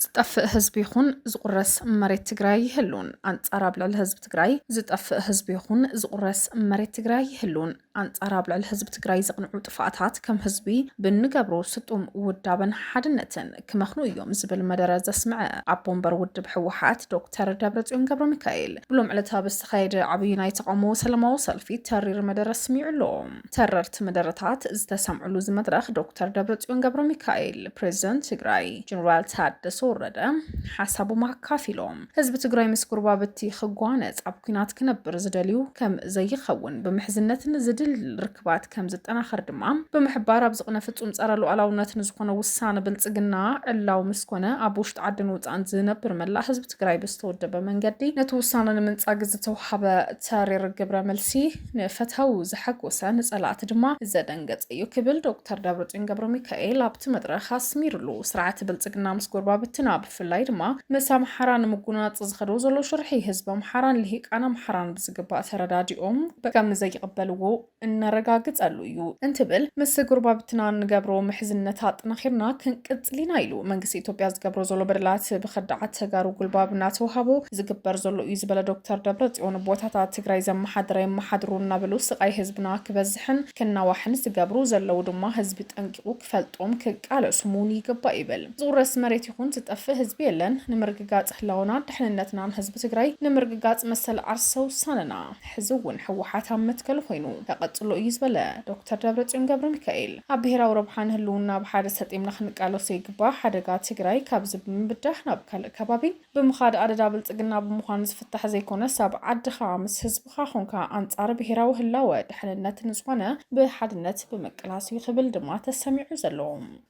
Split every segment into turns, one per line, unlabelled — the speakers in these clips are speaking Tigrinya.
ዝጠፍእ ህዝቢ ይኹን ዝቑረስ መሬት ትግራይ ይህሉን ኣንጻር ኣብ ልዕሊ ህዝቢ ትግራይ ዝጠፍእ ህዝቢ ይኹን ዝቑረስ መሬት ትግራይ ይህሉን ኣንጻር ኣብ ልዕሊ ህዝቢ ትግራይ ዘቕንዑ ጥፋኣታት ከም ህዝቢ ብንገብሮ ስጡም ውዳበን ሓድነትን ክመኽኑ እዮም ዝብል መደረ ዘስምዐ ኣቦ ወንበር ውድብ ህወሓት ዶክተር ደብረፅዮን ገብረ ሚካኤል ብሎም ዕለት ኣብ ዝተኻየደ ዓብዪ ናይ ተቃውሞ ሰላማዊ ሰልፊ ተሪር መደረ ስሚዑ ኣሎ። ተረርቲ መደረታት ዝተሰምዕሉ እዚ መድረኽ ዶክተር ደብረፅዮን ገብረሚካኤል፣ ፕሬዚደንት ትግራይ ጀኔራል ታደሰ ወረደ ሓሳቦም ኣካፊሎም። ህዝቢ ትግራይ ምስ ጎረባብቲ ክጓነፅ ኣብ ኩናት ክነብር ዝደልዩ ከም ዘይኸውን ብምሕዝነት ንዝድል ርክባት ከም ዝጠናኸር ድማ ብምሕባር ኣብ ዝቕነ ፍፁም ፀረ ሉኣላውነት ንዝኾነ ውሳነ ብልፅግና ዕላዊ ምስ ኮነ ኣብ ውሽጢ ዓድን ወፃእን ዝነብር መላእ ህዝቢ ትግራይ ብዝተወደበ መንገዲ ነቲ ውሳነ ንምንፃግ ዝተውሃበ ተሪር ግብረ መልሲ ንፈታዊ ዘሐጎሰ ንፀላእቲ ድማ ዘደንገፀ እዩ ክብል ዶክተር ደብረፅዮን ገብረሚካኤል ኣብቲ መድረኽ ኣስሚርሉ። ስርዓት ብልፅግና ምስ ጎረባብትና ብፍላይ ድማ ምስ ኣምሓራ ንምጉንናፅ ዝኸዶ ዘሎ ሽርሒ ህዝቢ ኣምሓራን ልሂቃን ኣምሓራን ብዝግባእ ተረዳዲኦም ከምዘይቕበልዎ እነረጋግፀሉ እዩ እንትብል ምስ ጎረባብትና እንገብሮ ምሕዝነት ኣጠናኺርና ክንቅፅል ኢና ኢሉ። መንግስቲ ኢትዮጵያ ዝገብሮ ዘሎ በደላት ብኸዳዓት ተጋሩ ጉልባብ እናተውሃቦ ዝግበር ዘሎ እዩ ዝበለ ዶክተር ደብረፅዮን፣ ቦታታት ትግራይ ዘመሓድር ኣየመሓድሩን እናበሉ ስቓይ ህዝብና ክበዝሕን ክናዋሕን ዝገብሩ ዘለዉ ድማ ህዝቢ ጠንቂቑ ክፈልጦም ክቃለሱም እውን ይግባእ ይብል። ዝውረስ መሬት ይኹን ዝጠፍእ ህዝቢ የለን። ንምርግጋፅ ህላወናን ድሕንነትናን ህዝቢ ትግራይ፣ ንምርግጋፅ መሰል ዓርሰ ውሳነና ሕዚ እውን ህወሓት ኣብ መትከሉ ኮይኑ ከቐፅሎ እዩ ዝበለ ዶክተር ደብረፅዮን ገብረሚካኤል፣ ኣብ ብሄራዊ ረብሓ ንህልውና ብሓደ ሰጢምና ክንቃለሶ ይግባእ። ሓደጋ ትግራይ ካብዚ ብምብዳህ ናብ ካልእ ከባቢ ብምኻድ ኣደዳ ብልጽግና ብምዃን ዝፍታሕ ዘይኮነስ ኣብ ዓድኻ ምስ ህዝብኻ ኾንካ ኣንጻር ብሄራዊ ህላወ ድሕንነት ንዝኾነ ብሓድነት ብምቅላስ እዩ ክብል ድማ ተሰሚዑ ዘሎ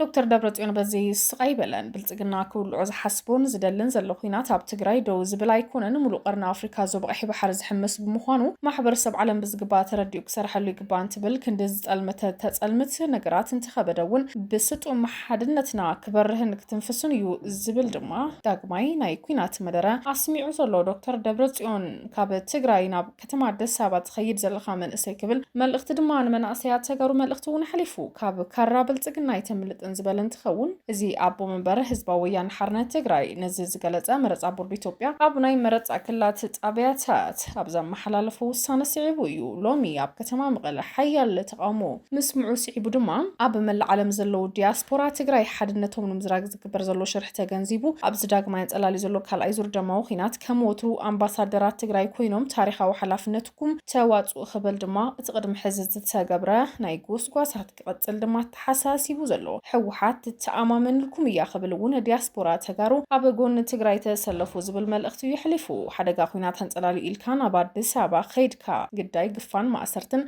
ዶክተር ደብረጽዮን በዚ ስቕ ኣይበለን። ብልጽግና ክውልዖ ዝሓስቦን ዝደልን ዘሎ ኹናት ኣብ ትግራይ ደው ዝብል ኣይኮነን፣ ሙሉእ ቀርኒ ኣፍሪካ ዞባ ቀይሕ ባሕሪ ዝሕምስ ብምዃኑ ማሕበረሰብ ዓለም ብዝግባእ ተረዲኡ ክሰርሐሉ ይግባእ እንትብል ክንዲ ዝጠልምተ ተጸልምት ነገራት እንተኸበደ እውን ብስጡም ሓድነትና ክበርህን ክትንፍስን እዩ ዝብል ድማ ዳግማይ ናይ ኩናት መደረ ኣስሚዑ ዘሎ ዶክተር ደብረፅዮን ካብ ትግራይ ናብ ከተማ ኣዲስ ኣበባ ትኸይድ ዘለኻ መንእሰይ ክብል መልእኽቲ ድማ ንመናእሰያት ተጋሩ መልእኽቲ እውን ሓሊፉ ካብ ካራ ብልፅግና ኣይተምልጥን ዝበለ እንትኸውን እዚ ኣቦ መንበር ህዝባዊ ወያነ ሓርነት ትግራይ ነዚ ዝገለፀ መረፃ ቦርድ ኢትዮጵያ ኣብ ናይ መረፃ ክልላት ጣብያታት ኣብ ዘመሓላለፎ ውሳነ ስዒቡ እዩ ሎሚ ኣብ ከተማ መቐለ ሓያል ተቓውሞ ምስምዑ ስዒቡ ድማ ኣብ መላእ ዓለም ዘለዉ ዲያስፖራ ትግራይ ሓድነቶም ንምዝራግ ዝግበር ዘሎ ሽርሒ ተገንዚቡ ኣብዚ ዳግማይ ኣንፀላልዩ ዘሎ ካልኣይ ዙር ደማዊ ኹናት ከም ወትሩ ኣምባሳደራት ትግራይ ኮይኖም ታሪኻዊ ሓላፍነትኩም ተዋፅኡ ክብል ድማ እቲ ቅድሚ ሕዚ ዝተገብረ ናይ ጎስጓሳት ክቕፅል ድማ ኣተሓሳሲቡ ዘሎ ህወሓት ትተኣማመንልኩም እያ ክብል እውን ዲያስፖራ ተጋሩ ኣብ ጎኒ ትግራይ ተሰለፉ ዝብል መልእኽቲ እዩ የሕሊፉ። ሓደጋ ኹናት ኣንፀላልዩ ኢልካ ናብ ኣዲስ ኣበባ ከይድካ ግዳይ ግፋን ማእሰርትን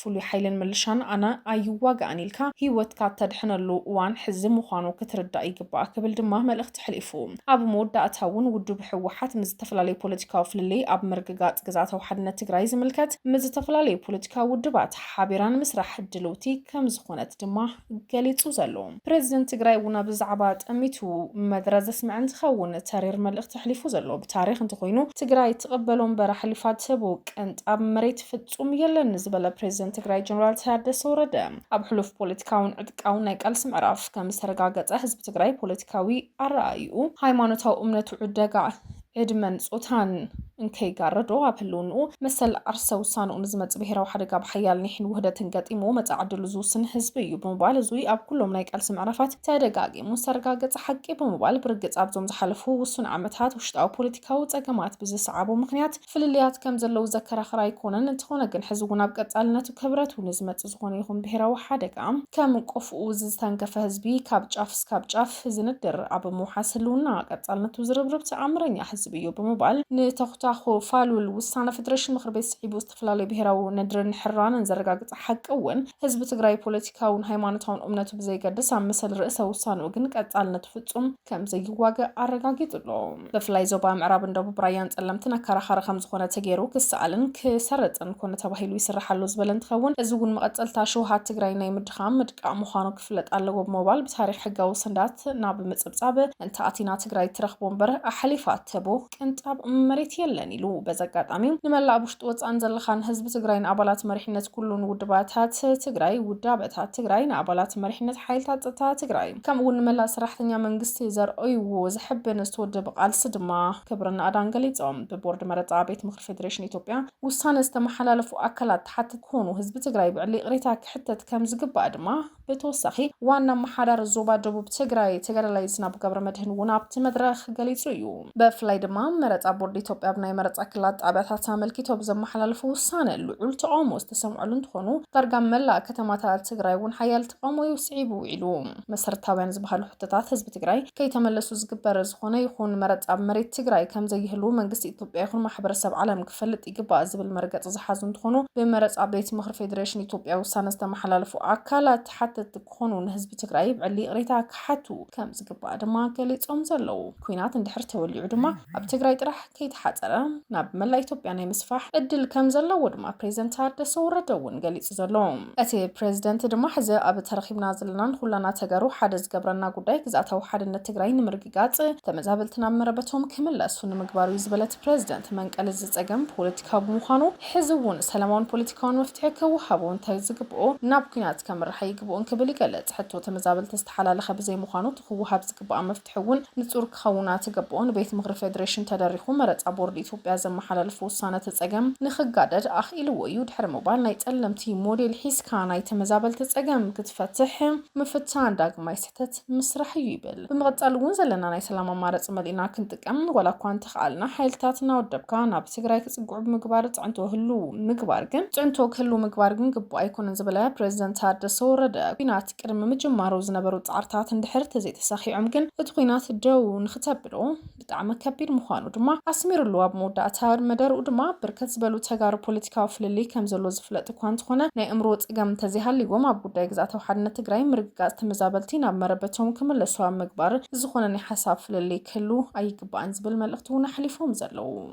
ፍሉይ ሓይልን ምልሻን ኣነ ኣይዋጋእን ኢልካ ህይወትካ እተድሕነሉ እዋን ሕዚ ምዃኑ ክትርዳእ ይግባእ ክብል ድማ መልእኽቲ ኣሕሊፉ። ኣብ መወዳእታ እውን ውድብ ህወሓት ምስ ዝተፈላለዩ ፖለቲካዊ ፍልልይ ኣብ ምርግጋፅ ግዝኣታዊ ሓድነት ትግራይ ዝምልከት ምስ ዝተፈላለዩ ፖለቲካዊ ውድባት ሓቢራ ንምስራሕ ድልውቲ ከምዝኾነት ድማ ገሊፁ ዘሎ ፕረዚደንት ትግራይ እውን ኣብዚ ዛዕባ ጠሚቱ መደረ ዘስምዐ እንትኸውን ተሪር መልእኽቲ ኣሕሊፉ ዘሎ ብታሪኽ እንተኾይኑ ትግራይ ትቕበሎ እምበር ኣሕሊፋ ትህቦ ቅንጣብ መሬት ፍፁም የለን ንዝበለ ፕሬዚደንት ትግራይ ጀነራል ታደሰ ወረደ ኣብ ሕሉፍ ፖለቲካውን ዕጥቃውን ናይ ቃልሲ ምዕራፍ ከም ዝተረጋገፀ ህዝቢ ትግራይ ፖለቲካዊ ኣረኣእይኡ፣ ሃይማኖታዊ እምነቱ ዕደጋ ዕድመን ፆታን እንከይጋረዶ ኣብ ህልውንኡ መሰል ዓርሰ ውሳንኡ ንዝመፅእ ብሄራዊ ሓደጋ ብሓያል ኒሕን ውህደትን ገጢምዎ መፃኢ ዕድሉ ዝውስን ህዝቢ እዩ ብምባል እዙይ ኣብ ኩሎም ናይ ቃልሲ ምዕራፋት ተደጋጊሙ ዝተረጋገፀ ሓቂ ብምባል ብርግፅ ኣብዞም ዝሓለፉ ውሱን ዓመታት ውሽጣዊ ፖለቲካዊ ፀገማት ብዝሰዓቦ ምኽንያት ፍልልያት ከም ዘለዉ ዘከራኽር ኣይኮነን፣ እንተኾነ ግን ሕዚ እውን ኣብ ቀጻልነቱ ክብረቱ ንዝመጽእ ዝኾነ ይኹን ብሄራዊ ሓደጋ ከም ቆፎኡ ዝተንከፈ ህዝቢ ካብ ጫፍ እስካብ ጫፍ ዝንድር ኣብ ምውሓስ ህልውና ቀጻልነቱ ዝርብርብ ተኣምረኛ ህዝቢ እዩ ብምባል ንተኹታኹ ፋሉል ውሳነ ፈደረሽን ምኽሪ ቤት ስዒቡ ዝተፈላለዩ ብሄራዊ ንድርን ሕራነን ዘረጋግጽ ሓቂ እውን ህዝቢ ትግራይ ፖለቲካውን ሃይማኖታውን እምነቱ ብዘይገድስ ኣብ መሰል ርእሰ ውሳንኡ ግን ቀጻልነቱ ፍጹም ከምዘይዋገእ ኣረጋጊጹ ኣሎ። ብፍላይ ዞባ ምዕራብን ደቡብ ራያን ፀለምትን ኣከራኻሪ ከምዝኾነ ተገይሩ ክሰኣልን ክሰርፅን ኮነ ተባሂሉ ይስራሕ ኣሎ ዝበለ እንትኸውን እዚ እውን መቐፀልታ ሽውሃት ትግራይ ናይ ምድኻም ምድቃቕ ምዃኑ ክፍለጥ ኣለዎ ብምባል ብታሪኽ ሕጋዊ ሰንዳት ናብ ምፅብፃብ እንተኣቲና ትግራይ እትረኽቦ እምበር ኣሕሊፋ እትህቦ ቅንጣብ መሬት የለን ኢሉ። በዚ ኣጋጣሚ ንመላእ ኣብ ውሽጢ ወፃእን ዘለኻን ህዝቢ ትግራይ ንኣባላት መሪሕነት ኩሉን ውድባታት ትግራይ፣ ውዳበታት ትግራይ፣ ንኣባላት መሪሕነት ሓይልታት ፀጥታ ትግራይ፣ ከምኡ እውን ንመላእ ሰራሕተኛ መንግስቲ ዘርኣይዎ ዘሕብን ዝተወደበ ቃልሲ ድማ ክብርን ናእዳን ገሊፆም። ብቦርድ መረፃ ቤት ምኽሪ ፌዴሬሽን ኢትዮጵያ ውሳነ ዝተመሓላለፉ ኣካላት ተሓተቲ ክኾኑ፣ ህዝቢ ትግራይ ብዕሊ ይቕሬታ ክሕተት ከምዝግባእ ድማ ብተወሳኺ ዋና ኣመሓዳሪ ዞባ ደቡብ ትግራይ ተጋዳላይ ዝናቡ ገብረመድህን እውን ኣብቲ መድረኽ ገሊፁ እዩ። ብፍላይ ድማ መረፃ ቦርድ ኢትዮጵያ ኣብ ናይ መረፃ ክልላት ጣብያታት ኣመልኪቱ ኣብ ዘመሓላለፎ ውሳነ ልዑል ተቓውሞ ዝተሰምዐሉ እንትኾኑ ዳርጋ ኣብ መላእ ከተማታት ትግራይ እውን ሓያል ጠሞዩ ስዒቡ ውዒሉ። መሰረታውያን ዝበሃሉ ሕቶታት ህዝቢ ትግራይ ከይተመለሱ ዝግበር ዝኾነ ይኹን መረፃ ኣብ መሬት ትግራይ ከምዘይህልው መንግስቲ ኢትዮጵያ ይኹን ማሕበረሰብ ዓለም ክፈልጥ ይግባእ ዝብል መርገፂ ዝሓዙ እንትኾኑ ብመረፃ ቤት ምኽሪ ፌዴሬሽን ኢትዮጵያ ውሳነ ዝተመሓላለፉ ኣካላት ተሓተትቲ ክኾኑ ንህዝቢ ትግራይ ብዕሊ ይቕሬታ ክሓቱ ከምዝግባእ ድማ ገሊፆም ዘለው። ኲናት እንድሕር ተወሊዑ ድማ ኣብ ትግራይ ጥራሕ ከይተሓፀረ ናብ መላእ ኢትዮጵያ ናይ ምስፋሕ እድል ከም ዘለዎ ድማ ፕሬዚደንት ታደሰ ወረደ እውን ገሊፁ ዘሎ እቲ ፕሬዚደንት ድማ ሕዚ ኣብ ተረኺብና ዘለና ንኹላና ተጋሩ ሓደ ዝገብረና ጉዳይ ግዝኣታዊ ሓድነት ትግራይ ንምርግጋፅ ተመዛበልቲ ናብ መረበቶም ክምለሱ ንምግባር እዩ ዝበለ እቲ ፕሬዚደንት መንቀሊ እዚ ፀገም ፖለቲካዊ ብምዃኑ ሕዚ እውን ሰላማውን ፖለቲካውን መፍትሒ ክወሃቦ እንታይ ዝግብኦ ናብ ኲናት ከምርሕ ኣይግብኦን ክብል ይገልፅ። ሕቶ ተመዛበልቲ ዝተሓላለኸ ብዘይምዃኑ እቲ ክወሃብ ዝግባእ ፍትሒ እውን ንፁር ክኸውን ኣትገብኦ ንቤት ምኽሪ ፌዴሬሽን ተደሪኹ መረፃ ቦርድ ኢትዮጵያ ዘመሓላለፎ ውሳነ እቲ ፀገም ንክጋደድ ኣኽኢልዎ እዩ ድሕሪ ምባል ናይ ፀለምቲ ሞዴል ሒዝካ ናይ ተመዛበልቲ ፀገም ክትፈትሕ ምፍታን ዳግማይ ስህተት ምስራሕ እዩ ይብል። ብምቕፃል እውን ዘለና ናይ ሰላም ኣማረፂ መሊእና ክንጥቀም ዋላ እኳ እንተኸኣልና ሓይልታት እናወደብካ ናብ ትግራይ ክፅግዑ ብምግባር ፅዕንቶ ህልው ምግባር ግን ፅዕንቶ ክህልው ምግባር ግን ግቡእ ኣይኮነን ዝበለ ፕሬዚደንት ታደሰ ወረደ ኲናት ቅድሚ ምጅማሩ ዝነበሩ ጻዕርታት እንድሕር ተዘይተሳኺዖም ግን እቲ ኲናት ደው ንኽተብሎ ብጣዕሚ ከቢድ ምዃኑ ድማ ኣስሚርሉ። ኣብ መወዳእታ መደርኡ ድማ ብርክት ዝበሉ ተጋሩ ፖለቲካዊ ፍልልይ ከም ዘሎ ዝፍለጥ እኳ እንተኾነ ናይ እምሮ ጸገም እንተዘይሃልይዎም ኣብ ጉዳይ ግዝኣታዊ ሓድነት ትግራይ ምርግጋጽ ተመዛበልቲ ናብ መረበቶም ክምለሱ ኣብ ምግባር ዝኾነ ናይ ሓሳብ ፍልልይ ክህሉ ኣይግባእን ዝብል መልእኽቲ እውን ኣሕሊፎም ዘለዉ።